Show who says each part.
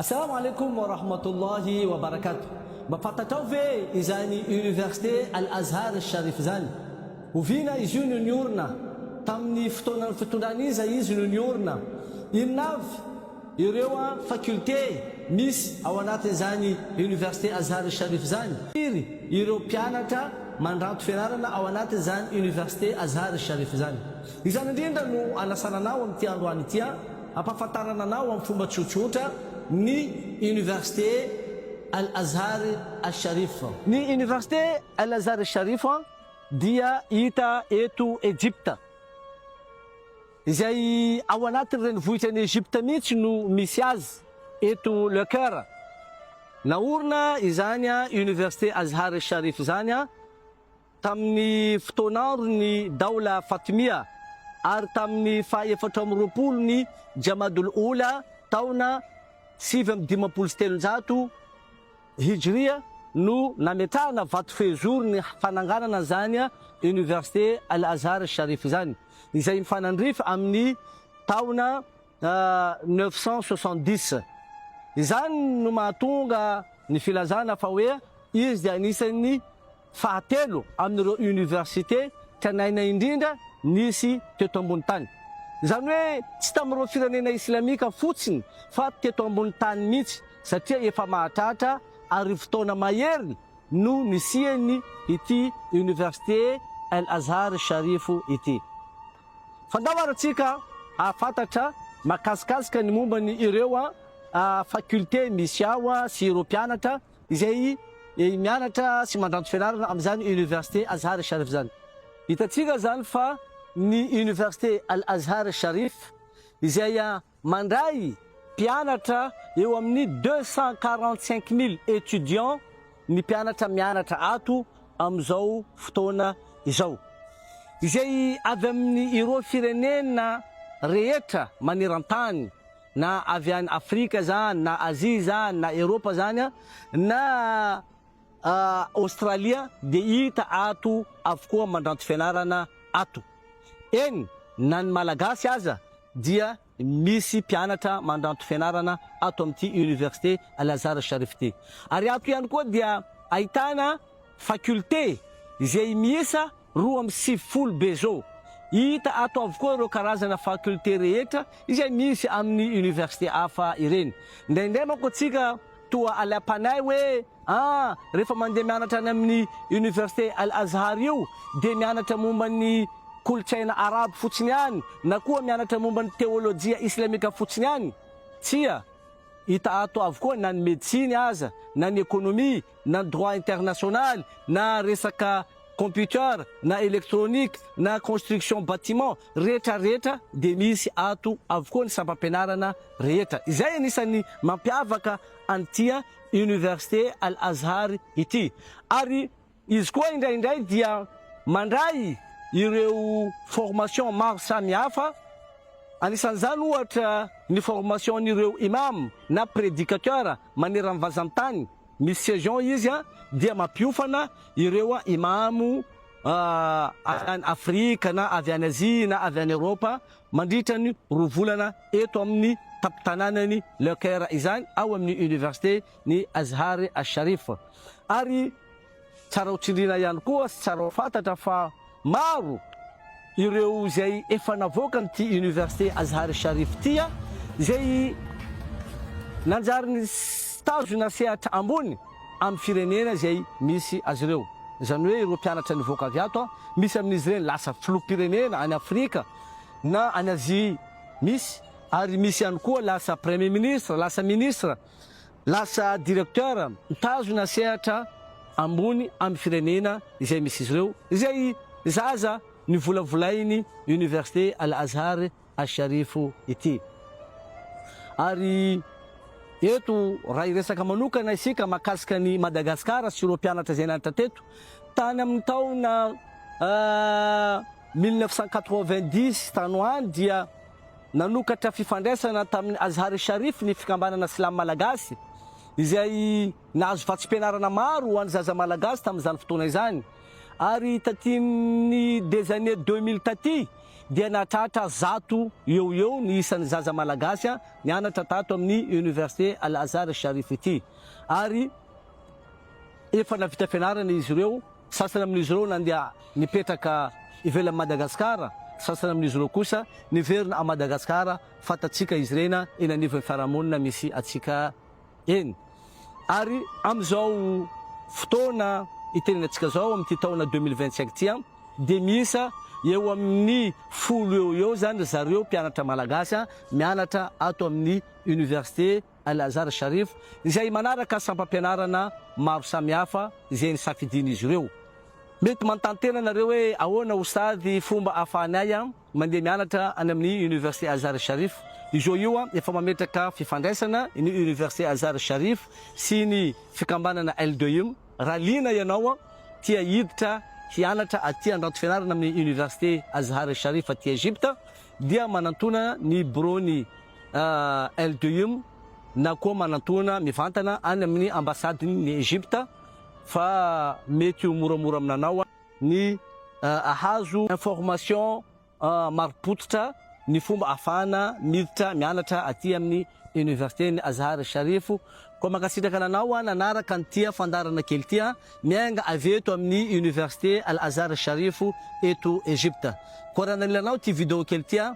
Speaker 1: Assalaamu alaikum wa rahmatullahi wa barakatuh Mba fantatrao ve izany université Al Azhar Al Sharif izany? Oviana izy io no niorina? Tamin'ny fotoanan'ny fitondran'iza izy no niorina? Inona avy ireo faculté misy ao anatin'izany université Azhar Al Sharif izany? Firy ireo mpianatra mandranto fianarana ao anatin'izany université Azhar Al Sharif izany? Izany indrindra no anasana anao amin'ity androany ity an! Ampahafantarana anao amin'ny fomba tsotsotra ny Université Al-Azhar Al-Sharif. Ny Université Al-Azhar Al-Sharif dia hita eto Ejipta, izay ao anatin'ny renivohitra an'i Ejipta mihitsy no misy azy eto Le Caire. Naorina izany Université Azhar Al-Sharif izany. Tamin'ny fotoan'andron'ny Daola Fatimia ary tamin'ny faha efatra amby roapolo ny Jamadul Oula taona sivy amby dimampolo sy telonjato Hijria no nametrahana vato fehizoro ny fananganana an'izany Université Al-Azhar Sharif izany, izay mifanandrify amin'ny taona neuf cent soixante-dix. Izany no mahatonga ny filazana fa hoe izy dia anisan'ny fahatelo amin'ireo université tranaina indrindra nisy teto ambony tany. Izany hoe tsy tamin'ireo firenena islamika fotsiny fa teto ambony tany mihitsy satria efa mahatratra arivo taona mahery no nisiany ity université El Azhar Sharif ity. Fanao ary antsika hahafantatra makasikasika ny momba ny ireo facultés misy ao sy ireo mpianatra izay mianatra sy mandranto fianarana amin'izany université Azhar e Sharif izany. Hitantsika izany fa ny université Al Azhar Sharif izay Mandray mpianatra eo amin'ny deux cent quarante cinq mille étudiants ny mpianatra mianatra ato amin'izao fotoana izao, izay avy amin'ny ireo firenena rehetra maneran-tany, na avy any Afrika izany, na Azia izany, na Eropa izany, na. Aostralia dia hita ato avokoa mandranto fianarana ato. Eny na ny Malagasy aza dia misy mpianatra mandranto fianarana ato amin'ity Université Al Azhar Sharif ity. Ary ato ihany koa dia ahitana facultés izay miisa. roa amby sivifolo Bezo. Hita ato avokoa ireo karazana facultés rehetra izay misy amin'ny université hafa ireny. Indraindray manko antsika toa alaim-panahy hoe ah, rehefa mandeha mianatra any amin'ny université Al-Azhar io dia mianatra momba ny kolontsaina arabo fotsiny ihany na koa mianatra momba ny teolojia islamika fotsiny ihany. Tsia, hita ato avokoa na ny medisiny aza na ny ekonomia na ny droit international na resaka computer na electronique na construction bâtiment rehetra rehetra dia misy ato avokoa ny sampam-pianarana rehetra. Izay anisan'ny mampiavaka an'ity Université Al Azhar ity. Ary izy koa indraindray dia mandray ireo formation maro samihafa, anisan'izany ohatra ny formation-n'ireo Imam na prédicateur maneran'ny vazan-tany. Ny session izy dia mampiofana ireo Imamo avy any Afrika na avy any Azia na avy any Eropa mandritra ny roa volana eto amin'ny tampon-tanànan'i Le Caire izany ao amin'ny Université ny Azhar Al-Sharif ary Tsara ho tsindriana ihany koa sy tsara ho fantatra fa maro ireo izay efa navoakan'ity Université Azhar Sharif ity izay nanjary nitazona sehatra ambony amin'ny firenena izay misy azy ireo. Izany hoe ireo mpianatra nivoaka avy ato, misy amin'izy ireny lasa filoham-pirenena any Afrika na any Azia misy ary misy ihany koa lasa Premier Ministre, lasa Ministre. Lasa directeur mitazona sehatra ambony amin'ny firenena izay misy izy ireo, izay zaza novolavolain'ny Université Al-Azhar Al-Sharif ity. Ary eto raha hiresaka manokana isika mahakasika an'i Madagasikara sy ireo mpianatra izay nianatra teto, tany amin'ny taona mille neuf cent quatre-vingt-dix tany ho any dia. Nanokatra fifandraisana tamin'ny Azhar-e Sharif ny Fikambanana Silamo Malagasy, izay nahazo vatsim-pianarana maro ho an'ny zaza malagasy tamin'izany fotoana izany, ary tatin'ny des années deux mille taty dia nahatratra zato eo ho eo ny isan'ny zaza malagasy nianatra tato amin'ny Université Al-Azhar-e Sharif ity, ary efa navita fianarana izy ireo. Sasany amin'izy ireo nandeha nipetraka ivelan'i Madagasikara, sasany amin'izy ireo kosa niverina à Madagasikara, fantatsika izy ireny eny anivon'ny fiarahamonina misy antsika eny. Ary amin'izao fotoana itenenantsika izao, amin'ity taona deux mille vingt cinq ity, dia miisa eo amin'ny folo eo ho eo izany ry zareo mpianatra malagasy mianatra ato amin'ny Université. Al-Azhar Sharif, izay manaraka sampam-pianarana maro samihafa izay nisafidian'izy ireo. Mety manontany-tena ianareo hoe ahoana ho sady fomba ahafahan'ny ahy mandeha mianatra any amin'ny Université Azhar Sharif. I Joe io efa mametraka fifandraisana ny Université Azhar Sharif sy ny fikambanana Al-Doim. Raha liana ianao tia hiditra hianatra aty handrato fianarana amin'ny Université Azhar Sharif aty Egypta dia manantona ny biraon'i. El Duyum na koa manantoana mivantana any amin'ny ambasadin' ny Egypta fa mety ho moramora aminanao ny ahazo information marim-pototra ny fomba ahafahana miditra mianatra aty amin'ny Université ny Azhar Sharif. Koa mankasitraka ananao an nanaraka an'ity fandaharana kely ity an, miainga avy eto amin'ny Université Al Azhar Sharif eto Egypta. Koa raha nalilanao ity video kely ity an,